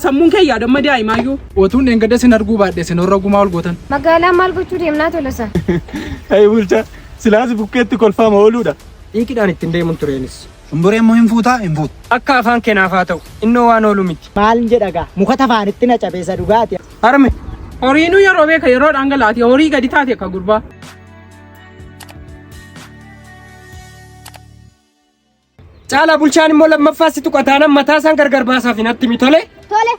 Sammuun kee yaadamma daa'imaayyuu. Otuun dheengadda sin arguu baadhe sin horra gumaa ol gootan. Magaalaa maal gochuu deemnaa tolosa? Hey bulcha silaasi bukkeetti kolfaama ooluudha. Xiiqidhaan ittiin deemuun tureenis. Shumburee immoo hin fuutaa hin fuutu. Akka afaan kenaaf haa ta'u innoo waan oolu miti. Maal jedha gaa muka tafaanitti na cabeessa dhugaati. Harme horiinuu yeroo beeka yeroo dhangalaati horii gadi taate akka gurbaa. Caalaa bulchaan immoo lammaffaa si tuqa taanan mataa isaan gargar baasaaf hin attimi tole. Tole.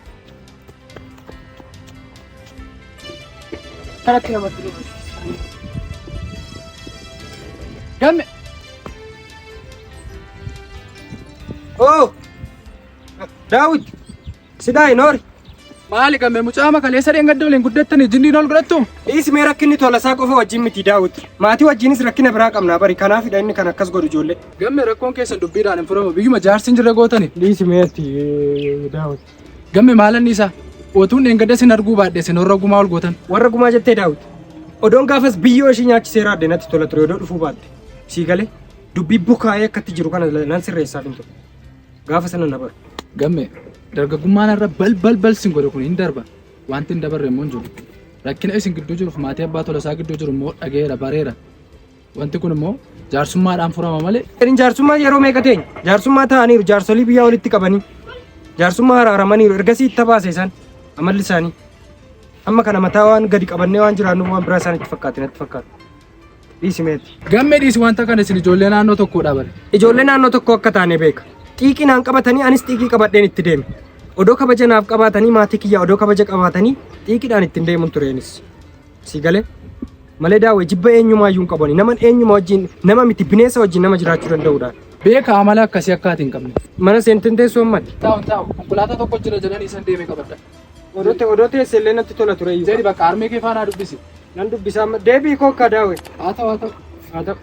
Kanatti namatti dhufu. Gamme. Oo! Daawit! Sidaa hin hoori. Maali gamme mucaama kaleessa dheengadda waliin guddattanii jinniin ol godhattuum? Dhiisi mee rakkinni tolasaa qofa wajjin miti daawwiti. Maatii wajjinis rakkina biraa qabnaa bari kanaafidha inni kan akkas godhu ijoollee. Gamme rakkoon keessan dubbiidhaan hin furamu biyyuma jaarsi hin jirre gootani. Dhiisi mee ati daawwiti. Gamme maalanni isaa? Otuun dheengadda sin arguu baadhe sin warra gumaa ol gootan. Warra gumaa jettee daawwiti. Odoon gaafas biyyoo ishii nyaachisee raadde natti tola ture odoo dhufuu baatte. Sii galee dubbii bukaa'ee akkatti jiru kana nan sirreessaaf hin ture. Gaafa sana na bara. Gamme dargaggummaan irra bal bal bal sin godhe kun hin darba. Wanti hin dabarre immoo hin jiru. Rakkina isin gidduu jiruuf maatii abbaa tolasaa gidduu jiru immoo dhageera bareera. Wanti kun immoo jaarsummaadhaan furama malee Isin jaarsummaa yeroo meeqa teenya? Jaarsummaa ta'aniiru jaarsolii biyyaa walitti qabanii. Jaarsummaa haraaramaniiru ergasii itti baase isaan amalli isaanii. Amma kana mataa waan gadi qabannee waan jiraannuuf waan biraa isaanitti fakkaate natti fakkaata. Dhiisi meetti. Gammee dhiisi wanta kana isin ijoollee naannoo tokkoo dhaabare. Ijoollee naannoo tokkoo akka taane beeka. Xiiqii naan qabatanii anis xiiqii qabadheen itti deeme. Odoo kabaja naaf qabaatanii maatii kiyyaa odoo kabaja qabaatanii xiiqiidhaan ittiin deemuun tureenis. Sii galee? Malee daawwee jibba eenyumaa iyyuu hin qabani. Naman eenyumaa wajjin nama miti bineensa wajjin nama jiraachuu danda'uudhaan. Beeka amala akkasii akka ati hin qabne. Mana seenteen teessoo ammatti. Taa'u taa'u konkolaataa tokko jira jedhanii isan deemee qabadha. Odote odote SLA natti tola ture iyyuu. Zedi bakka armee kee faanaa dubbisi. Nan dubbisaa amma deebii koo akka daawe. Haa ta'u haa ta'u. Haa ta'u.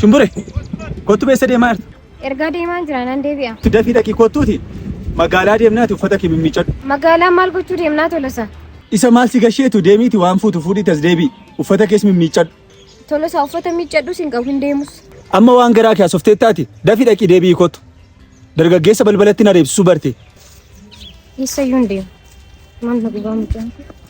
Shumbure, kottu beessa deemaa jirtu. Ergaa deemaa jira nan deebi'a. Itti dafii dhaqii kottuuti magaalaa deemnaati uffata kee mimmiiccadhu. Magaalaa maal gochuu deemnaa tolosa? Isa maal si gasheetu deemiiti waan fuutu fuudhii tas deebii uffata kees mimmiiccadhu. Tolosa uffata miiccadhus hin qabu hin deemus. Amma waan garaa kee hasoftee taati dafii dhaqii deebii kottu. Dargaggeessa balbalatti na reebsisuu barte. Eessayyuu hin deemu. Maal na gubaa mucaan?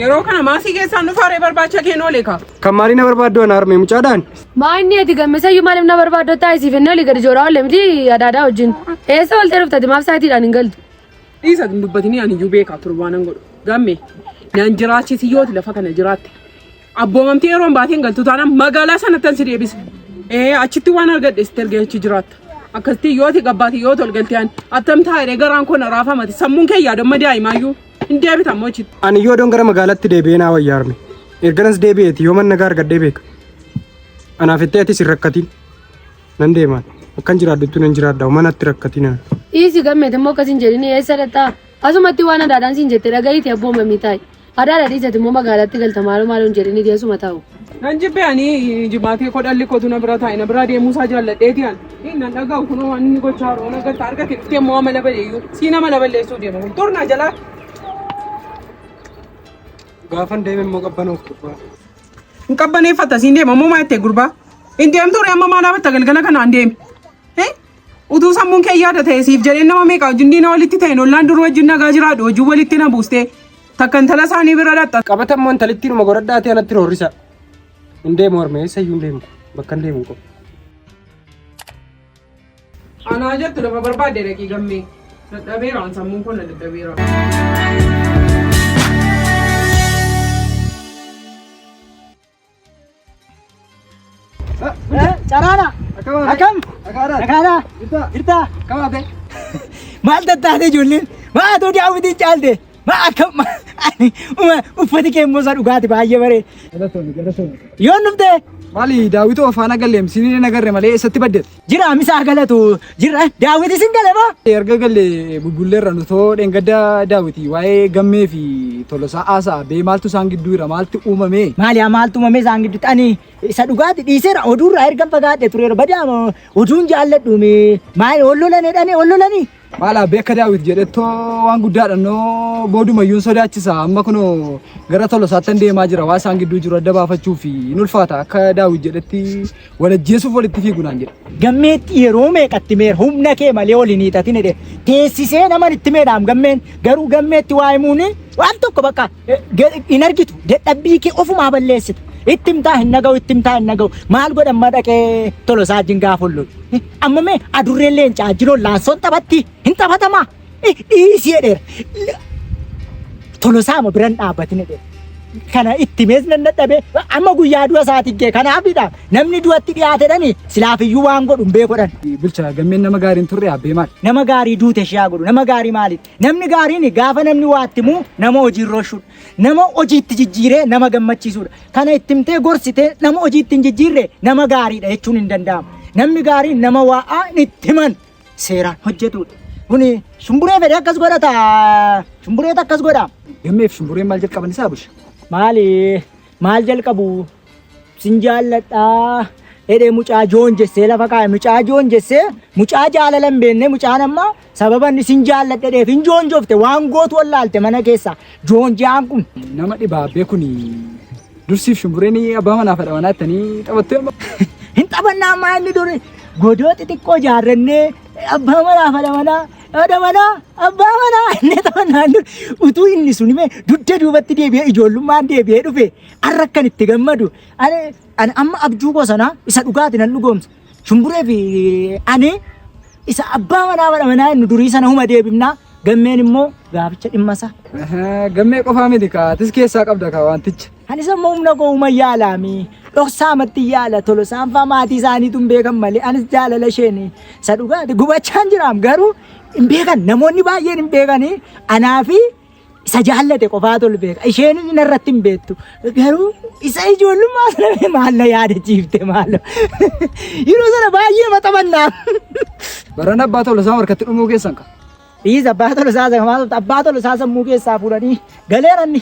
Yeroo kana maasii keessaan dhufaa ree barbaacha keen oole kaa. Kan maalii na barbaaddu ana harmee mucaadhaan? Maa inni ati gammeessayyuu maaliif na barbaaddu taasisi fennee olii gadi jooraa olle miti adaadaa wajjin. Eessa oltee dhuftati maaf saatiidhaan hin galtu? Dhiisa hin dubbatinii ani iyyuu beekaa ture waan hin godhu. Gamme nan jiraachisi yooti lafa kana jiraatte. Abboomamtee yeroo hin baateen galtu taanaan magaalaa sanattan si deebisa. Ee achitti waan argadhe sitti ergee achi jiraatta. Akkasitti yooti gabbaate yooti ol galtee ani attam taa'ee garaan koo na raafamate sammuun kee yaadamma daa'imaayyuu. Hin deebitan moo ichitti. Ani yoo doon gara magaalatti deebi'ee naa wayyaa arme. Erganas deebi'eeti yoo manna gaar gaddee beeka. Anaaf itti atis hin rakkatiin. Nan deemaan. Akkan jiraadhuttu nan jiraadha. Manatti rakkatiin ana. Dhiisi gammeeti immoo akkas hin jedhini eessa dhaqxaa? Asumatti waan adaadhaan siin jette dhaga'iiti abboo mamii taa'i. Adaadha dhiisati immoo magaalatti galta maaloo maaloo hin jedhini deessuma taa'u. Nan jibbe ani jimaatee koo dhalli kootu na bira taa'e na biraa deemuu isaa jaalladheeti an. Hin nan dhaga'u kunoo waan inni gochaa jiru waan agarta harka kee dhuftee immoo amala baleeyyuu sii nama na balleessuu deema kun turnaa jalaa. Gaafan deeme immoo qabbanoof gubbaa. Hin qabbaneeffata siin deema ammoo maa jettee gurbaa. Hin deemtu ture amma maal dhaabbatta galgala kanaan deemi. Eh? Utuu sammuun kee yaada ta'e siif jedhee nama meeqa wajjin diina walitti ta'e ollaan dur wajjin nagaa jiraadhu wajjin walitti na buustee. Takka intala isaanii bira dhaqxa. Qabata immoo intalittiin uma godhadhaa ta'e anatti roorrisa. Hin deemu harmee eessa iyyuu hin deemu bakka hin deemu qofa. Anaa jettu lafa barbaadde dhaqii gammee. Dadhabeeraan sammuun kun na dadhabeera. Caraadha. Akkam? Nagaadha. Jirta. Maal tattaate ijoolleen? Maa atoo daawwitiin caalte? Maa akkam? Ani uma uffati kee immoo isa dhugaati baay'ee baree. Yoon dhuftee? Maali daawwitoo faana galleem siniin hin agarre malee eessatti baddeetti? Jira misa haa galatu. Jira daawwiti isin gale moo? Erga galle bubbulleerra nu too dheengadda daawwiti waa'ee gammee fi tolosaa haasa'a bee maaltu isaan gidduu jira maaltu uumame? Maali haa maaltu uumame isaan gidduutti ani isa dhugaati dhiiseera oduurraa ergan fagaadhe tureera badaa moo oduun jaalladhuumi maali ol lolane dhane ol lolanii Maal abbee akka daawwit jedhettoo waan guddaadha noo boodumayyuu hin sodaachisa amma kunoo gara tola isaattan deemaa jira waa isaan gidduu jiru adda baafachuu fi hin ulfaata akka daawwit jedhetti wal ajjeesuuf walitti fiigu naan jedha. Gammeetti yeroo meeqatti meer humna kee malee ol hin hiixatin jedhe teessisee naman itti meedhaam gammeen garuu gammeetti waa himuun waan tokko bakka eh, ge- hin argitu dadhabbii kee ofumaa balleessita itti himtaa hin naga'u itti himtaa hin naga'u maal godhan madaqee tolosaa jin gaafa ollotu. Amma mee adurreen leencaa jiroon laansoon taphatti hin taphatamaa? Dhiisii jedheera. Tolosaama biran dhaabbatin jedheera. Kana itti mees nan dadhabee amma guyyaa du'a isaati gee kanaafidha namni du'atti dhiyaatedhani silaafiyyuu waan godhu hin beekodhan. Bulchaa gammeen nama gaariin turre abbee maal? Nama gaarii duute ishee haa godhu nama gaarii maali? Namni gaariin gaafa namni waatti muu nama hojiirra oolchudha. Nama hojiitti jijjiiree nama gammachiisudha. Kana itti himtee gorsitee nama hojii ittiin jijjiirre nama gaariidha jechuun hin danda'amu. Namni gaariin nama waa'aa itti himan seeraan hojjetudha. Kuni shumburee fedhe akkas godha taa shumbureet akkas godha. Gammeef shumbureen maal jalqaban isaa busha? Maali maal jalqabu sin jaalladhaa jedhee mucaa joon jessee lafa kaa'e mucaa joon jessee mucaa jaalala hin beekne mucaan amma Sababa inni sin jaalladheef hin joonjofte waan gootu wallaalte mana keessa joonjaan kun. Nama dhibaabbee kun dursiif shumbureen abbaa manaa fedha manaa ittanii taphattee amma. Hin taphannaa ammaa inni duri godoo xixiqqoo jaarrannee abbaa manaa fedha manaa fedha manaa abbaa manaa inni taphannaan dur utuu inni sun himee dugda duubatti deebi'ee ijoollummaan deebi'ee dhufe har'a akkan itti gammadu ani ani amma abjuu koo sanaa isa dhugaati nan dhugoomsa. Shumburee fi ani isa abbaa manaa mana manaa inni durii sana huma deebifnaa gammeen immoo gaaficha dhimma isaa. Gammee qofaa miti kaa atis keessaa qabda kaa wanticha. Ani isa immoo humna koo huma yaalaami. Dhoksaa matti yaala tolo saanfaa maatii isaaniitu hin beekan malee anis jaalala isheen isa dhugaati gubachaan jiraam garuu hin beekan namoonni baay'een hin beekanii anaa fi Isa jaallate qofaatu ol beeka. Isheenis narratti hin beektu. Garuu isa ijoollummaa sana mee maal na yaadachiifte maaloo. Yeroo sana baay'ee maxamannaa. Barana abbaa tola isaa harkatti dhumuu keessan ka. Dhiis abbaa tola isaa sana maal abbaa tola isaa sammuu keessaa fuudhanii galeeranni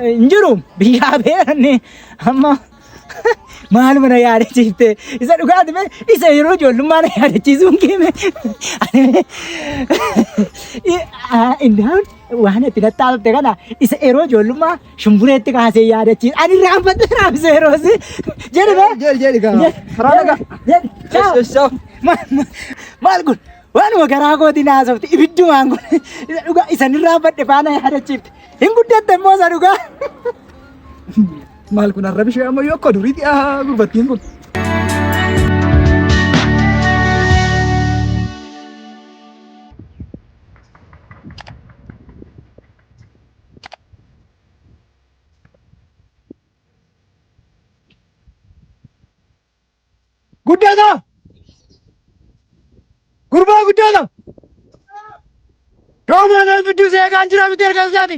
hin jiru biyyaa beeranni amma. Maal mana yaadachiifte isa dhugaati mee isa yeroo ijoollummaa na yaadachiisuun keeme indaan waan itti nattaafte kana isa yeroo ijoollummaa shumbureetti kaasee yaadachiis ani raanfadhe raabse yeroos jedhe mee Jeel jeel gaa. Karaa nagaa. jedhe ciao. Yes, yes, Maal- maal- maal kun waanuma garaa kooti naasofte ibiddumaan kun isa dhugaa isanirraa badhe faana yaadachiifte hin guddatte immoo isa dhugaa Maal kun arrabi ishee amma yoo akka duriitti haa gurbattiin kun. Guddata! Gurbaa guddata! Doomaa nama bidduu si eegaan jira miti erga isaati.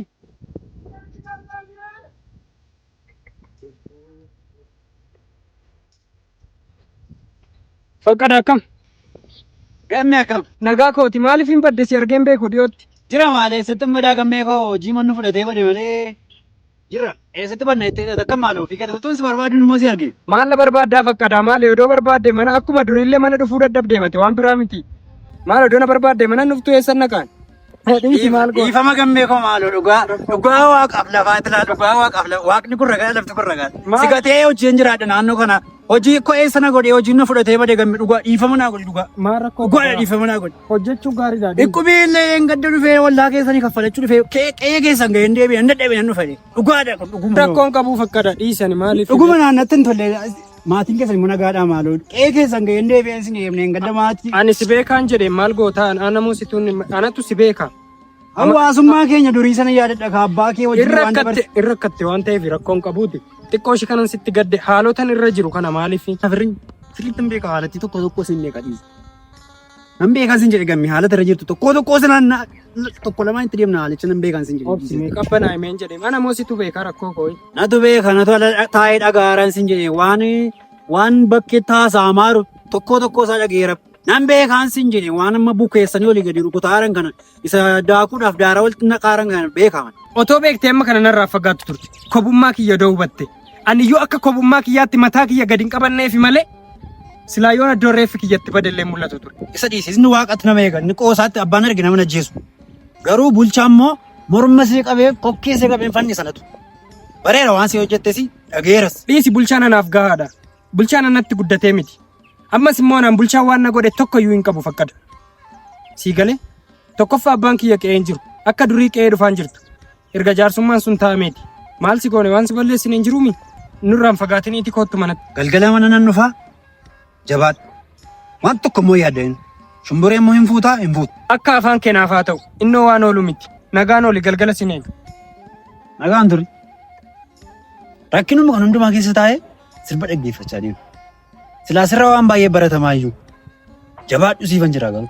Faqqada akkam? Gammee akkam? Nagaa kooti maaliif hin badde si argeen beeku dhiyootti? Jira maalee sittin badaa gammee koo hojii mannu fudhatee bade malee Jirra. Eessatti banna jettee taate akka maal ofii keetti utuun si barbaadin immoo si arge. Maal na barbaaddaa fakkaataa maal odoo barbaadde mana akkuma duriillee mana dhufuu dadhabdee mate waan biraa miti. Maal odoo na barbaadde mana dhuftuu eessan naqaan. Dhiisi maal goota. Dhiifama gammee koo maaloo dhugaa dhugaa waaqaaf lafaa itilaa dhugaa waaqaaf lafa waaqni kun ragaa lafti kun ragaa. Maal? Si gatee hojiin jiraadha naannoo kana. Hojii koo eessa na godhee hojiin na fudhatee bade gamme dhugaa dhiifama naa godhi dhugaa. Maal rakkoo Dhugaadha qabaa? dhiifama naa godhi. Hojjechuu gaariidha. Dhukkubii illee een gadda dhufee wallaa keessanii kaffalachuu dhufee qee- qe'ee keessan ga'ee hin deebi'e hin dadhabe nan dhufane dhugaadha kun dhuguma yoo. Rakkoon qabu fakkada dhiisani maaliif? Dhuguma naannatti hin tolle maatiin keessan immoo nagaadhaa maaloo qe'ee keessan ga'ee hin deebi'e isin eebne hin gadda maatii. Ani si beekaan jedhe maal gootaa anamuu situun anatu si beeka. Hawaasummaa keenya durii sana yaadadha ka abbaa kee wajjin Irra waan dabarse. akkatte irra akkatte waan ta'eef rakkoon qabuuti. Xiqqoo ishee kanan sitti gadde haalotan irra jiru kana maaliif? Firri sirriitti hin beeka haalatti tokko tokko isin ni qadhiisa. Nan beekan sin jedhe gamme haalata irra jirtu tokkoo tokkoo sanaan na- na- tokko lamaan itti deemna haalicha nan beekan sin jedhe. Obsi mee qabbanaa himeen jedhe mana moo situ beekaa rakkoo koo. Natu beeka natu ala taa'ee dhagaaran sin jedhe waan waan bakkee taasaa maaru tokkoo tokkoo isaa dhageera. Nan beekan sin jedhe waan amma bukeessanii olii gadi rukutaaran kana Isa daakuudhaaf daaraa walitti naqaaran kan beekaman. Otoo beektee amma kana narraa fagaattu turte. Kobummaa kiyya doo hubatte. Ani yoo akka kobummaa kiyyaatti mataa kiyya gadi hin qabanneefi malee silaa yoon iddoo reeffi kiyyatti badellee mul'atu ture. Isa dhiisisni waaqatti nama eegan. Ni qoosaatti abbaan arge nama najjeesu. Garuu bulchaa immoo morma isee qabee kokkee isee qabee fanni sanatu. Bareera waan si hojjettesi dhageeras. Dhiisi bulchaan anaaf gahaadha. Bulchaan anatti guddatee miti. Ammas immoo anaan bulchaan waan na godhe tokko iyyuu hin qabu fakkada. Sii galee tokkoffaa abbaan kiyya qe'ee hin jiru. Akka durii qe'ee dhufaan jirtu. Erga jaarsummaan sun taa'ameeti. Maal si goone waan si balleessine hin jiruumi? Nurraan fagaatiniiti koottu manatti. Galgala mana nan dhufaa jabaadha. Waan tokko immoo yaadadha. Shumburee immoo hin fuutaa hin fuutu. Akka afaan keenaaf haa ta'u innoo waan oolu miti. Nagaan oli galgala sin eega. Nagaan turi. Rakkinuma kan hundumaa keessa taa'ee sirba dhaggeeffachaa deema. Silaa sirra waan baay'ee baratamaa iyyuu jabaadhu siifan jira garuu.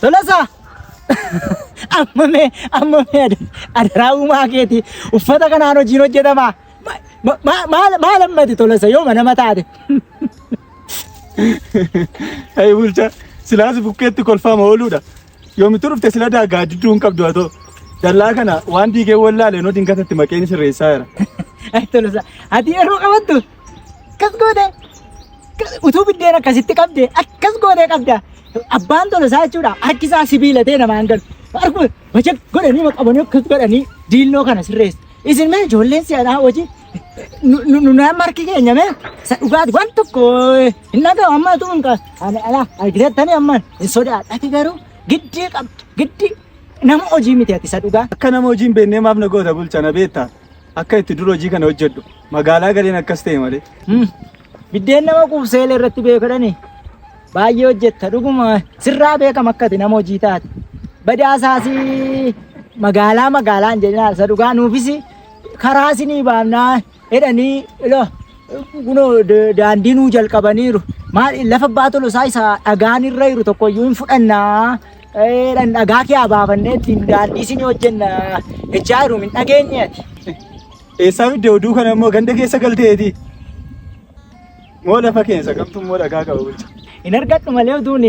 Tolasaa! Amma mee amma mee ad- adaraa uumaa keeti uffata kanaan hojiin hojjetama. Ma- ma- ma- Maal maal ammati tolasa yoo manama taate. Hey bulcha silaas bukkeetti kolfaama ooluudha. Yoomitu dhufte sila daagaa didduu hin qabdu atoo. Dallaa kana waan diigee wallaalee noo dingatatti maqeen sirreessaa jira. Ay tolasa ati yeroo qabattu akkas gootee utuu biddeen akkasitti qabde akkas gootee qabda abbaan tola isaa jechuudha harki isaa sibiila ta'e namaan galu harku wacha godhanii maqabanii akkas godhanii diilnoo kana sirreessu isin mee ijoolleen si'anaa hojii nu nama harki keenya mee isa dhugaati waan tokko hin dhagahu amma utuu hin qabu ani ala argiteettanii amma hin sodaadhati garuu giddii qabdu giddii nama hojii miti ati isa dhugaa akka nama hojiin beennee maaf na goota bulchana beektaa Akka itti dur hojii kana hojjedhu magaalaa galeen akkas ta'e malee. Hmm. Biddeen nama quubsee illee irratti beekadhani. Baay'ee hojjetta dhuguma sirraa beekama akka ati nama hojii taate. Badaasaasi magaalaa magaalaan jedhinaa isa dhugaa nuufis karaa isinii baafnaa jedhanii ilo kunoo da- daandii nuu jalqabaniiru. Maal lafa abbaa tolosaa isa dhagaan irra jiru tokkoyyuu hin fudhannaa. Dhan dhagaa kee abaafannee ittiin daandii isin hojjenna jechaa jiru hin dhageenye ati. Eessaa fidde oduu kana immoo ganda keessa galteeti. Moo lafa keessa kamtu immoo dhagaa qaba bulcha. Hin argadhu malee oduun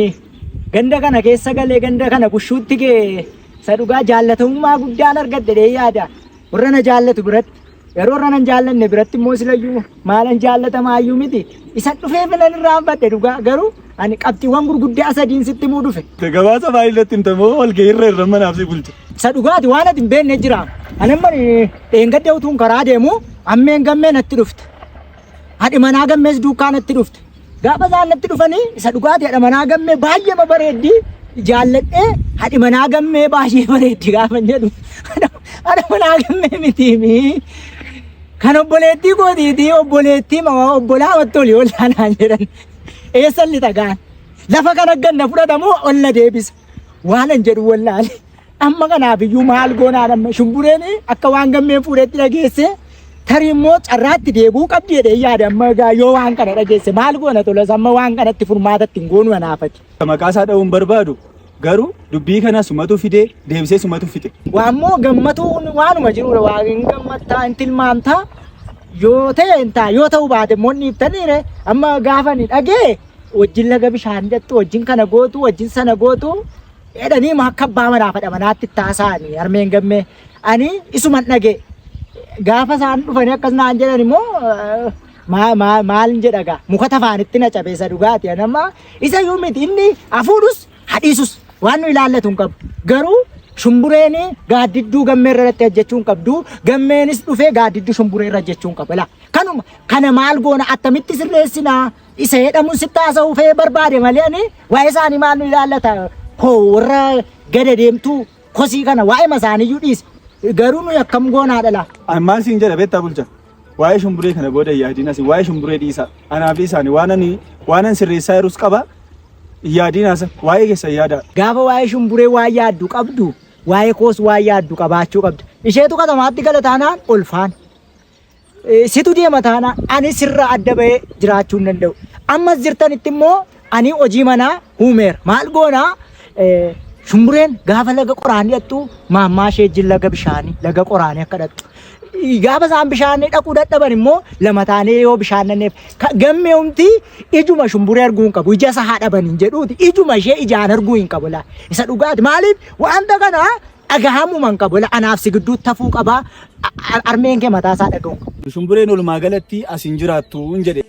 ganda kana keessa galee ganda kana bushuutti kee isa dhugaa jaallatamummaa guddaan argadhe dee yaada. Warra na jaallatu biratti yeroo irra nan jaallanne biratti immoo silayyuu maalan jaallatamaa iyyuu miti. Isa dhufee filan irraa hanfadhe dhugaa garuu ani qabxiiwwan gurguddaa sadiin sitti himuu dhufe. Gabaasa baay'ee irratti himta moo walgahii irra irra manaaf si bulcha. Isa dhugaati waan ati hin beekne jira. Ani amma dheengadda utuun karaa deemu ammeen gammee natti dhufte. Haadhi manaa gammees duukaa natti dhufte. Gaafa isaan natti dhufanii isa dhugaati haadha manaa gammee baay'ee ma bareeddi jaalladhee haadhi manaa gammee baay'ee bareeddi gaafa hin jedhu. Haadha manaa gammee mitiimi. Kan obboleettii gootiitii obboleettii ma obbolaa wattu olii ollaa naan jedhan. Eessan lixa gaan. Lafa kan agganna fudhatamu olla deebisa. Waan hin jedhu wallaale. Amma kanaaf iyyuu maal goonaa dhamma shumbureen akka waan gammeen fuudhetti dhageesse tarii immoo carraatti deebuu qabdi jedhee yaada amma egaa yoo waan kana dhageesse maal goona tolas amma waan kanatti furmaatatti hin goonu anaafati. Maqaa isaa dha'uu hin barbaadu garuu dubbii kana sumatu fidee deebisee sumatu fixe. Waammoo gammatuun waanuma jirudha waan hin gammattaa hin tilmaamtaa yoo ta'e hin ta'a yoo ta'u baate immoo ni ibsaniire amma gaafa ni dhagee wajjin laga bishaan hidhattu wajjin kana gootu wajjin sana gootu Jedhanii ma akka abbaa manaa fadha manaatti taasa'anii harmeen gammee ani isuman dhagee gaafa isaan dhufanii akkas naan jedhan immoo eh, maa- maa- maal jedha gaa muka tafaanitti na cabeessa dhugaati anamma isa iyyuu miti inni hafuudhus hadhiisus waan nu ilaallatu hin qabu garuu shumbureen gaaddidduu gammee irratti hojjechuu hin qabdu gammeenis dhufee gaaddidduu shumburee irra hojjechuu hin qabu Ilaa, kanuma kana maal goona attamitti sirreessinaa Isa jedhamu sitti haasa'uu fee barbaade malee ani waa'ee isaanii maal nu ilaallata koo warra gada deemtuu kosii kana waa'ee masaaniyyuu dhiisi. Garuu nuyi akkam goonaa dhalaa. An maal siin jedha beektaa bulcha. Waa'ee shumburee kana booda yaadiin asi waa'ee shumburee dhiisa. Anaa fi isaani waan ani waan an sirreessaa jirus qaba. Yaadiin haasa waa'ee keessa yaada. Gaafa waa'ee shumburee waa yaaddu qabdu waa'ee koos waa yaaddu qabaachuu qabda. Isheetu katamaatti gala taanaan olfaan. Eh, Situ deema taanaan ani sirraa adda bahee jiraachuu hin danda'u. Ammas jirtanitti immoo ani hojii manaa huumeera. Maal goonaa? Eh, Shumbureen gaafa laga qoraan dhaqxu maammaa ishee wajjin laga bishaanii laga qoraanii akka dhaqxu. Eh, Gaafa isaan bishaan dhaquu dadhaban immoo lama taanee yoo bishaan nanneef ka- gammee humti ijuma shumburee arguu hin qabu ija isa haa dhaban hin jedhuuti ijuma ishee ijaan arguu hin qabu laa isa dhugaati maaliif wanta kana dhagahamuu man qabu ila anaaf si gidduu tafuu qabaa armeen kee mataa isaa dhagahuu qaba. Shumbureen walumaa galatti as hin jiraattu jedhe.